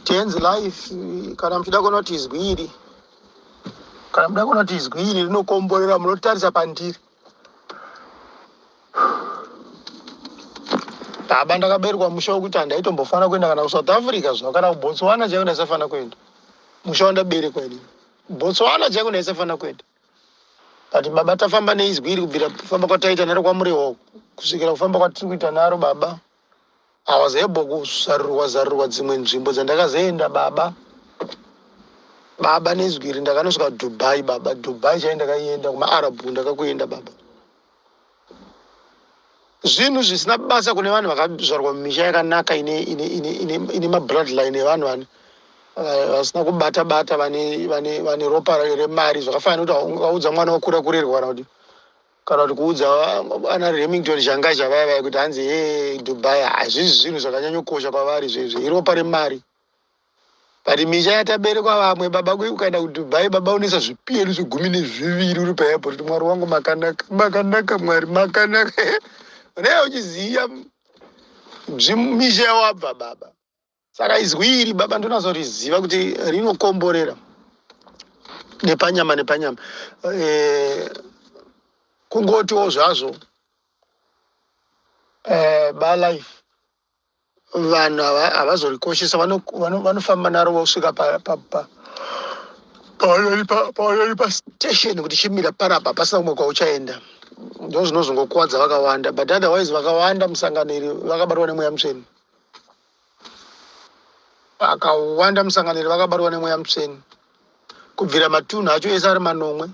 Tenzi life kana muchida kuona kuti izwi iri kana muchida kuona kuti izwi iri rinokomborera munotarisa pandiri baba ndakaberwa musha wekuti handaitombofanira kuenda kana kusouth africa zvino kana kubotswana chaiko ndaisafanira kuenda musha wandaberekwa ini botswana chaiko ndaisafanira kuenda but baba tafamba neizwi iri kubvira kufamba kwataita naro kwamurehoko kusvikira kufamba kwatiri kuita naro baba I was able kuzarurwa zarurwa dzimwe nzvimbo dzandakazoenda baba baba nezwi iri ndakanosvika dubai baba dubai chai ndakaienda kumaarab ndakakuenda baba zvinhu zvisina basa kune vanhu vakazvarwa mumisha yakanaka ine, ine, ine, ine, ine mabloodline evanhu vane eh, vasina kubata bata vane, vane, vane ropa remari zvakafanira kuti vaudza mwana wokura kurerwa kana kuti kana kuti kuudza ana remington zhangaja vaya vaya kuti hanzi he dubai hazvizi zvinhu zvakanyanyokosha kwavari zvezve iropa remari but misha yataberekwa vamwe baba ukaenda kudubai baba unesa zvipiyeri zvegumi nezviviri uri paairport kuti mwari wangu makanaka makanaka mwari makanaka unee uchiziva misha yawabva baba saka izwi iri baba ndonazoriziva kuti rinokomborera nepanyama nepanyama e, kungotiwo zvazvo e, eh, balife vanhu havazorikoshesa vanofamba naro vosvika pavanori pastation kuti chimira parapa pasina kumwe kwauchaenda ndo zvinozongokwadza vakawanda but otherwise vakawanda musangano iri vakabatwa nemweya mutsveni vakawanda musangano iri vakabatwa nemweya mutsvene kubvira matunhu acho ese ari manomwe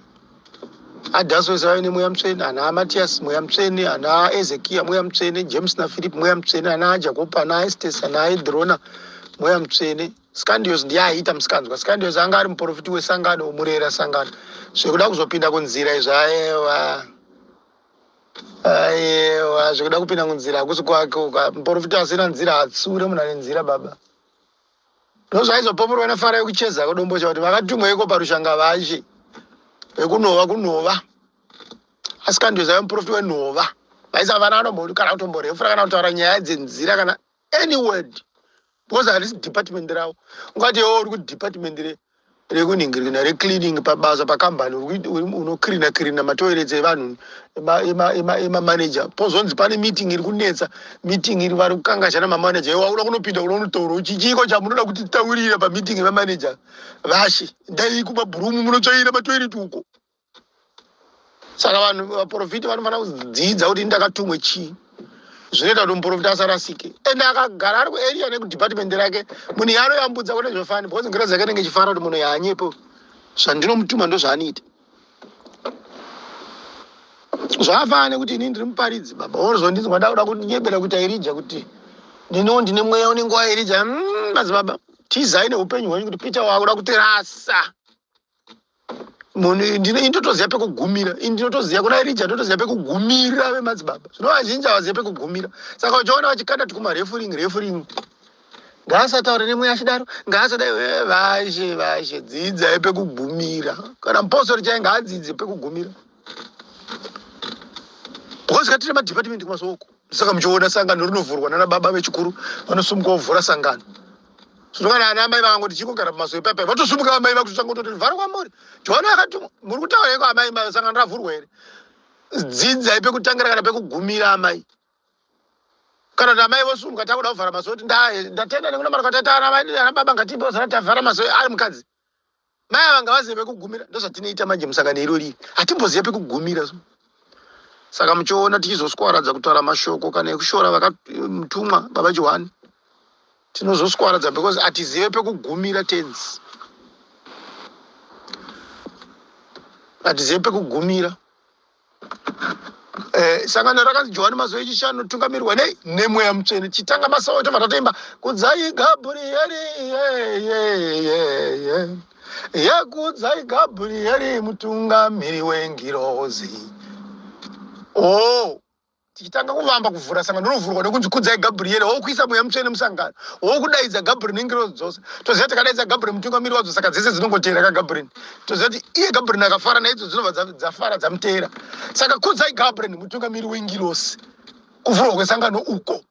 adhaso ese vave nemweya mutsvene ana amatiyasi mweya mutsvene ana aezekiya mweya mutsvene james nafiripi mweya mutsvene ana ajakopa ana aestesi ana aedhirona mweya mutsvene scandios ndiye aiita musikanzwa scandios anga ari muprofiti wesangano murera sangano zvekuda kuzopinda kunzira izvaewa Ayewa zvekuda kupinda kunzira hakusi kwake uka muporofita asina nzira hatsure munhu ane nzira baba ndozvaizopoporwa nefara yekucheza kudombocha kuti vakatumwa iko parushanga vachi vekunova kunova asi kandiweza vemuporofita wenova vaisavana anombokana kutomborefura kana kutaura nyaya dzenzira kana any word because harisi department ravo ungati iwo uri kudepartment rekunhingirina recleaning pabasa pakambani unocleana cleana matoirets evanhu emamanager pozonzi pane meeting iri kunetsa meeting iri vari kukangashana mamanager iwo auda kunopinda kuda kunotaura uchi chiiko chamunoda kuti titaurira pameeting emamanager vashe ndai kumabhurumu munotsvaira matoiret uko saka vanhu vaprofiti vanofanira kudzidza kuti ndakatumwe chii zvinoita kuti muprofita asarasike and akagara ari kuarea nekudepartment rake munhu yaanoyambudza kune zvefani because ngira dzake nenge chifara kuti munhu yaanyepo zvandinomutuma ndozvaanoita zvafana nekuti ini ndiri muparidzi baba wozondinzwa ndakuda kunyebera kuita irija kuti ndino ndine mweya unenge wairija mm, madzibaba tizai neupenyu hwenyu kuti peter wakuda kutirasa ndinotoziva pekugumira ndinotoziva kuna erija ndinotoziva pekugumira vemadzibaba zvino vazhinji havazive pekugumira saka uchiona vachikanda tikuma refuring refuring ngaasataure nemwe achidaro ngaasadai eh, vashe vashe dzidzai pekugumira kana mupostori chai ngaadzidze pekugumira because katine madepartment kumasoko saka muchiona sangano rinovhurwa nana baba vechikuru vanosumuka vovhura sangano zvinokana ana amai vangu ndichingogara mumaso epapai vatosumuka amai vakutochangototi vhara kwamuri joana yakati muri kutaura iko amai sangano ravhurwa here dzidzai pekutangira kana pekugumira amai kana kuti amai vosumuka takuda kuvhara maso kuti ndatenda nekuna mari kwataita ana baba ngatipe zana tavhara maso ari mukadzi mai ava ngavazive pekugumira ndozvatinoita manje musangano irori hatimbozive pekugumira so saka muchiona tichizoswaradza kutaura mashoko kana ekushora vakatumwa baba johani tinozoswaradza because hatizive pekugumira tenzi hatizive pekugumira Eh, sangano rakanzi johani mazuva echishanu tungamirwa nei nemweya mutsvene chitanga masawa tobva tatoimba kudzai gabrieri yekudzai gabrieri mutungamiri wengirozi o oh, tichitanga kuvamba kuvhura sangano rinovhurwa nekunzi kudzai gabrieri wo kuisa mweya mutsvene musangano wo kudaidza gabrieri nengirozi dzose toziva tikadaidza gabrieri mutungamiri wadzo saka dzese dzinongoteera kagabrieri toziva kuti iye gabrieri akafara naidzo dzinobva dzafara dzamuteera saka kudzai gabrieri mutungamiri wengirosi kuvhurwa kwesangano uko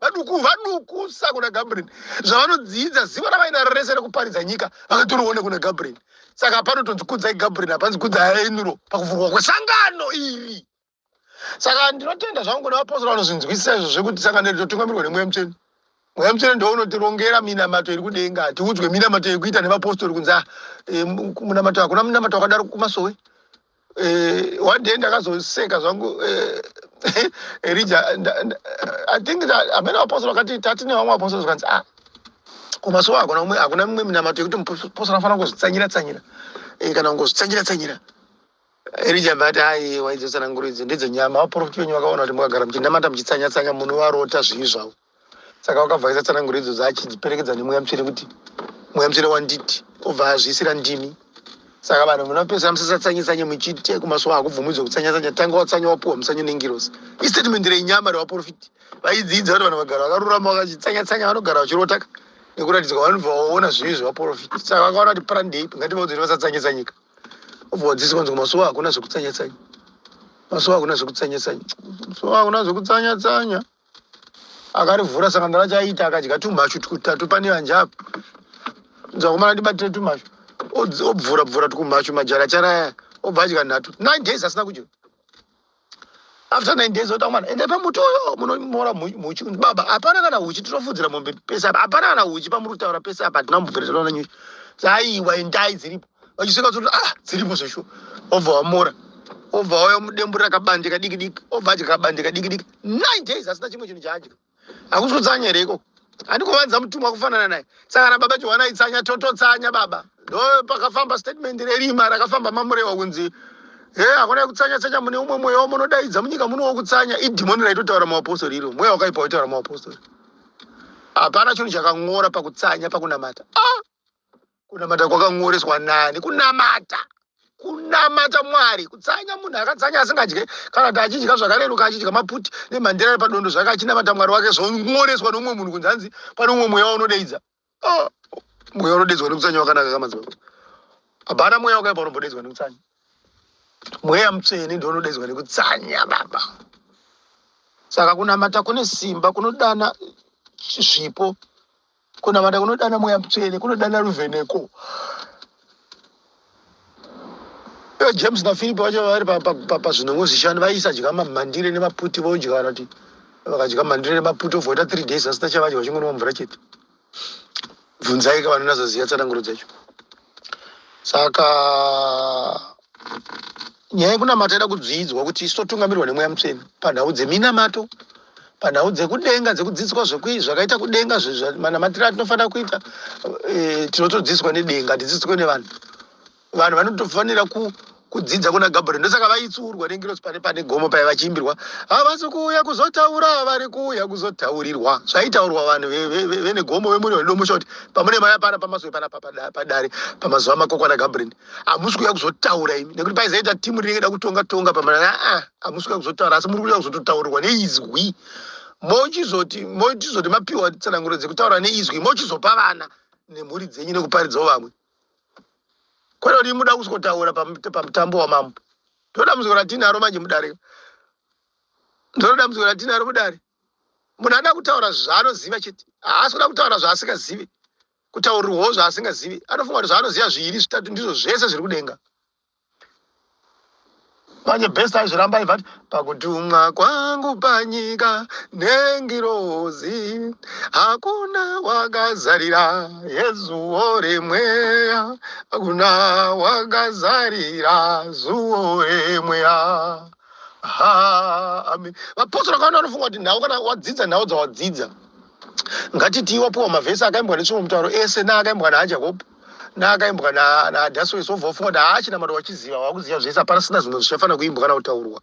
vaduku vaduku sa kuna gabriel zvavanodziidza zivo ravainaro rese rekuparidza nyika vakatorione kuna gabriel saka hapano tonzi kudzai gabriel hapanzi kudzai enuro pakuvhurwa kwesangano iri saka ndinotenda zvangu kuna vapostora vanozvinzwisisa izvo zvekuti sangano iri totungamirwa nemweya mutsvene mweya mutsvene ndo unotirongera minamato iri kudenga tiudzwe minamato yekuita nevapostori kunzi ah, eh, munamato hakuna munamato wakadaro kumasowe uh, one day ndakazoseka zvangu uh, erija i think amene vapostora vakati tati nevamwe vapostora zvikanzi ah kumasowa hakuna umwe hakuna mimwe minamato yekuti mupostora anofanira kungozvitsanyira tsanyira eh, kana kungozvitsanyira tsanyira erija but hai waidzosananguro idzi ndidzo nyama vaprofiti venyu vakaona kuti mukagara muchinamata muchitsanyatsanya munhu varota zvivi zvavo saka wakabva aisa tsananguro idzodzo achidziperekedza nemweya mutsvene kuti mweya mutsvene wanditi obva azviisira ndimi saka vanhu munopedzera musasatsanyetsanye muchiti kumasuwa hakubvumidzwa kutsanyatsanya tanga watsanya wapuwa mutsanyo nengirosi istatement renyama revaprofiti vaidzidza kuti vanhu vagara vakarurama vakachitsanyatsanya vanogara vachirotaka nekuratidzwa vanobva vaona zvivi zvevaprofiti saka vakaona kuti prandei ngativaudziri vasatsanyetsanyika obva wadzisi kwanzi kumasuwa hakuna zvekutsanyatsanya masuwa hakuna zvekutsanyatsanya masuwa hakuna zvekutsanyatsanya akarivhura saka ndava chaita akadya tumhashu tutatu pane vanje apa dzakomana ndibatire tumhashu obvura bvura tukumhashu majara charaya obva adya nhatu nine days asina kudya after nine days ota mwana endai pamuti uyo munomora muchi baba hapana kana huchi tinofudzira mombe pese apa hapana kana huchi pamuri kutaura pese apa hatina mubvereterana nyuchi aiwa endai dziripo vachisvika kuti ah dziripo zveshuwa obva wamora obva wauya mudembu rakabandika diki diki obva adya kabandika diki diki 9 days asina chimwe chinhu chaadya hakusi kutsanya here ikoko handi kuvanza mutumwa kufanana naye saka kana baba johwana itsanya tototsanya baba ndo pakafamba statement rerima rakafamba mamurewa kunzi he hakuna yekutsanya tsanya mune umwe mweya wamunodaidza munyika muno wokutsanya idhimoni raitotaura muapostori iro mweya wakaipa waitaura muapostori hapana chinhu chakang'ora pakutsanya pakunamata ah! kunamata kwakanyoreswa nani kunamata kunamata mwari kutsanya munhu akatsanya asingadye kana kuti achidya zvakareruka achidya maputi nemhandira ari padondo zvake achinamata mwari wake zvonyoreswa noumwe munhu kunzi hanzi pane umwe mweya unodeidza oh, mweya unodeidzwa nekutsanya wakanaka kamadzibaba hapana mweya wakaipa unombodeidzwa nekutsanya mweya mutsvene ndo unodeidzwa nekutsanya baba saka kunamata kune simba kunodana zvipo Kunamata kunodana mweya mutsvene, kunodana ruvheneko. Ivo James naFiripi vacho vari pazvinongo zvishanu vaiisa dya mamhandire nemaputi vodya kana kuti vakadya mhandire nemaputi ovoita three days vasina chavadya vachingonwa mvura chete. Bvunzaika vanonatsoziva tsananguro dzacho. Saka nyaya yekunamata ida kudzidzwa kuti isu totungamirwa nemweya mutsvene panhau dzeminamato panhau dzekudenga dzekudzidziswa zvakaita kudenga manamatiro atinofanira kuita eh, tinotodzidziswa nedenga hatidzidziswe nevanhu vanhu vanotofanira kudzidza kuna gabriel ndosaka vaitsiurwa nengirosi pane pane gomo paye vachiimbirwa havasi kuuya kuzotaura vari kuuya kuzotaurirwa zvaitaurwa vanhu vene gomo vemuri vanodomusha kuti pamune maya pana pamasoe pana padare pamazuva makokwana gabriel hamusi kuuya kuzotaura imi nekuti paizaita timu rinenge da kutonga tonga pamana aa hamusi kuuya kuzotaura asi muri kuuya kuzototaurirwa neizwi mochizoti mochizoti mapiwa tsananguro dzekutaura neizwi mochizopa vana nemhuri dzenyu nekuparidzawo vamwe kwete kuti muda kuzotaura pamutambo wamambo ndoda muziko ratinaro manje mudare ndiro dambudziko ratinaro mudare munhu anoda kutaura zvaanoziva chete haasi kuda kutaura zvaasikazivi kutaurirwawo zvaasingazivi anofunga kuti zvaanoziva zviiri zvitatu ndizvo zvese zviri kudenga manje best aizviramba aivati pakutumwa kwangu panyika nengirozi hakuna wakazarira yezuwo remweya hakuna wakazarira zuwo remweya haa amen vapostora kaona anofunga kuti nhau kana wadzidza nhau dzawadzidza ngatitii wapiwa mavhesi akaimbwa netsvimbo mutauro ese naakaimbwa najacob naakaimbwa nadasoes wobva wafunga kuti haa chinamato wachiziva wakuziva zvese hapana sina zvimwe zvichafanira kuimbwa kana kutaurwa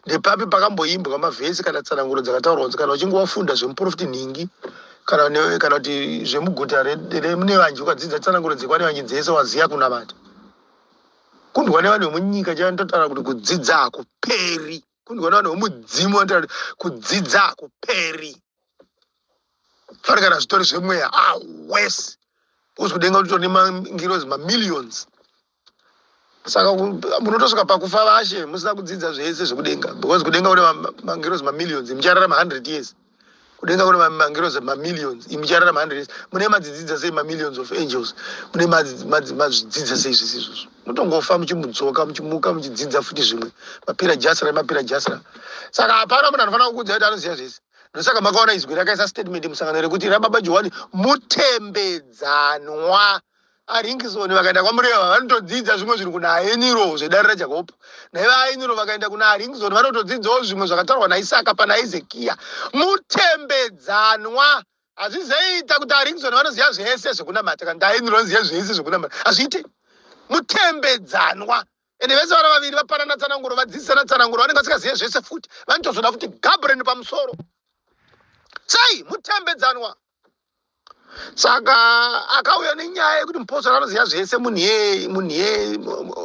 ndepapi pakamboimbwa mavhesi kana tsananguro dzakataurwa nzi kana uchinge wafunda zvemuprofiti nhingi kana kana kuti zvemuguta remunevanji ukadzidza tsananguro dzekwanevanji dzese waziva kunamata kundwa nevanhu vemunyika chanototaura kuti kudzidza hakuperi kundiona vanhu vomudzimu vanotaura kudzidza kuperi fari kana zvitori zvemweya ah wes uzikudenga kuti tone mangirozi mamillions saka munotosvika pakufa vashe musina kudzidza zvese zvekudenga because kudenga une mangirozi mamillions muchararama hundred years kudenga kune mangirozi mamillions imi charara mahandres mune madzidzidza sei mamillions of angels mune mazvidzidza sei zvese izvozvo mutongofa muchimudzoka muchimuka muchidzidza futi zvimwe mapira jasra mapira jasra saka hapana munhu anofanira kukuudza kuti anoziva zvese ndosaka makaona izwi rakaisa statement musangano rekuti rababa johani mutembedzanwa aringison vakaenda kwamureva vanotodzidza zvimwe zvinhu kuna ainiro zvedare rajakob naye vaainiro vakaenda kuna aringison vanotodzidzawo zvimwe zvakataurwa naisaka pana ezekiya mutembedzanwa hazvizoita kuti aringison vanoziva zvese zvekunamata kana kuti ainiro vanoziva zvese zvekunamata hazviite mutembedzanwa ende vese vana vaviri vapanana tsananguro vadzidzisana tsananguro vanenge vasingazive zvese futi vanotozoda futi gabreni pamusoro sei mutembedzanwa saka akauya nenyaya yekuti mupostori anoziva zvese munhu yei munhu yei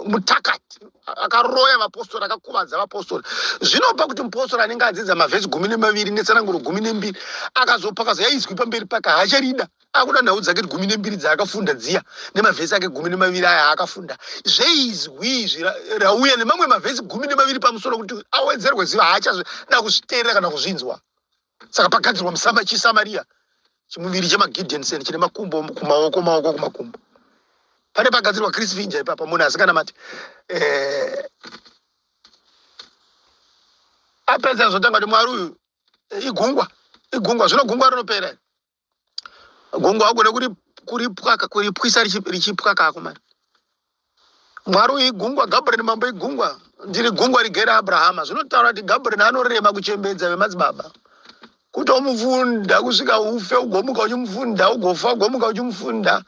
mutakati akaroya vapostori akakuvadza vapostori zvinopa kuti mupostori anenge adzidza mavhesi gumi nemaviri netsananguro gumi nembiri akazopa akazoya izwi pamberi pake haacharida akuda nhau dzake gumi nembiri dzaakafunda dziya nemavhesi ake gumi nemaviri aya aakafunda zveizwi izvi rauya nemamwe mavhesi gumi nemaviri pamusoro kuti awedzerwe ziva haachada kuzviteerera kana kuzvinzwa saka pagadzirwa musama chisamaria chimuviri chemagidensen chine makumbo kumaoko maoko kumakumbo pane pagadzirwa chris vinja ipapa munhu asikanamati eh, apedza zvotanga kuti mwari uyu eh, igungwa igungwa zvino gungwa rinopera gongo agone kuripwaka kuripwisa richipwa kako mari mwari uyu igungwa gabriel mambo igungwa ndiri gungwa rigere abrahama zvinotaura kuti gabriel anorema kuchembedza vemadzibaba kuti omufunda kusvika ufe ugomuka uchimufunda ugofa ugomuka uchimufunda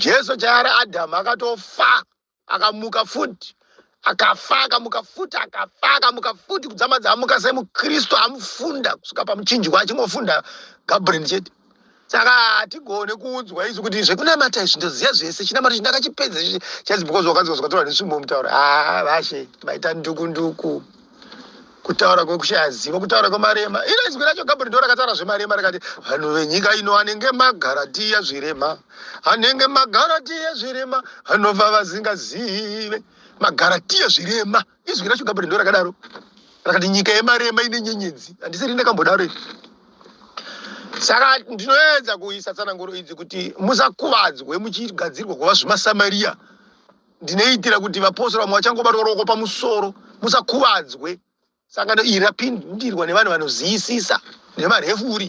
jesu chaari adhamu akatofa akamuka futi akafa akamuka futi akafa akamuka futi kudzama dzamuka semukristu amufunda kusvika pamuchinjwa achingofunda gabriel chete saka hatigone kuudzwa isu kuti zvekunamata izvi ndoziva zvese chinamato chi ndakachipedza izvi chaizi because wakanzi wazwataura nesvimbo mutaura haa vashe maita nduku nduku kutaura kwekushaya zivo kutaura kwemarema iro izwi racho gabri ndo rakataura zvemarema rikati vanhu venyika ino anenge magaratiya zvirema anenge magaratiya zvirema anova vazingazive magaratiya zvirema izwi racho gabri ndo rakadaro rakati nyika yemarema ine nyenyedzi handisiri ndakambodaro iri saka ndinoedza kuisa tsananguro idzi kuti musakuvadzwe muchigadzirwa kuva zvimasamaria ndinoitira kuti vapostora vamwe vachangobatwa ruoko pamusoro musakuvadzwe sangano iri rapindirwa nevanhu vanoziyisisa nemarefuri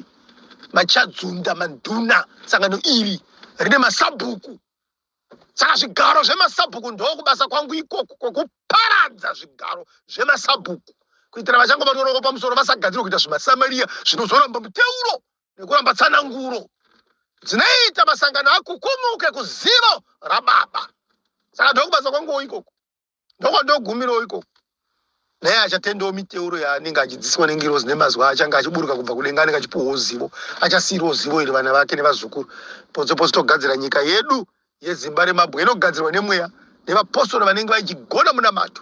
machadzunda manduna sangano iri rine masabhuku saka zvigaro zvemasabhuku ndokubasa kwangu ikoku kwokuparadza zvigaro zvemasabhuku kuitira vachangobatwa ruoko pamusoro vasagadzirwa kuita zvimasamariya zvinozoramba muteuro nekuramba tsananguro dzinoita masangano akukumuke kuzivo rababa saka ndokubasa kwanguwo ikoko ndokwandogumirowo ikoko naye achatendawo miteuro yaanenge achidziswa nengirozi nemazuva achange achiburuka kubva kudenga anenge achipuhwawo zivo achasiirawo zivo iri vana vake nevazukuru potso potso togadzira nyika yedu yezimba remabwe inogadzirwa nemweya nevapostori vanenge vaichigona munamato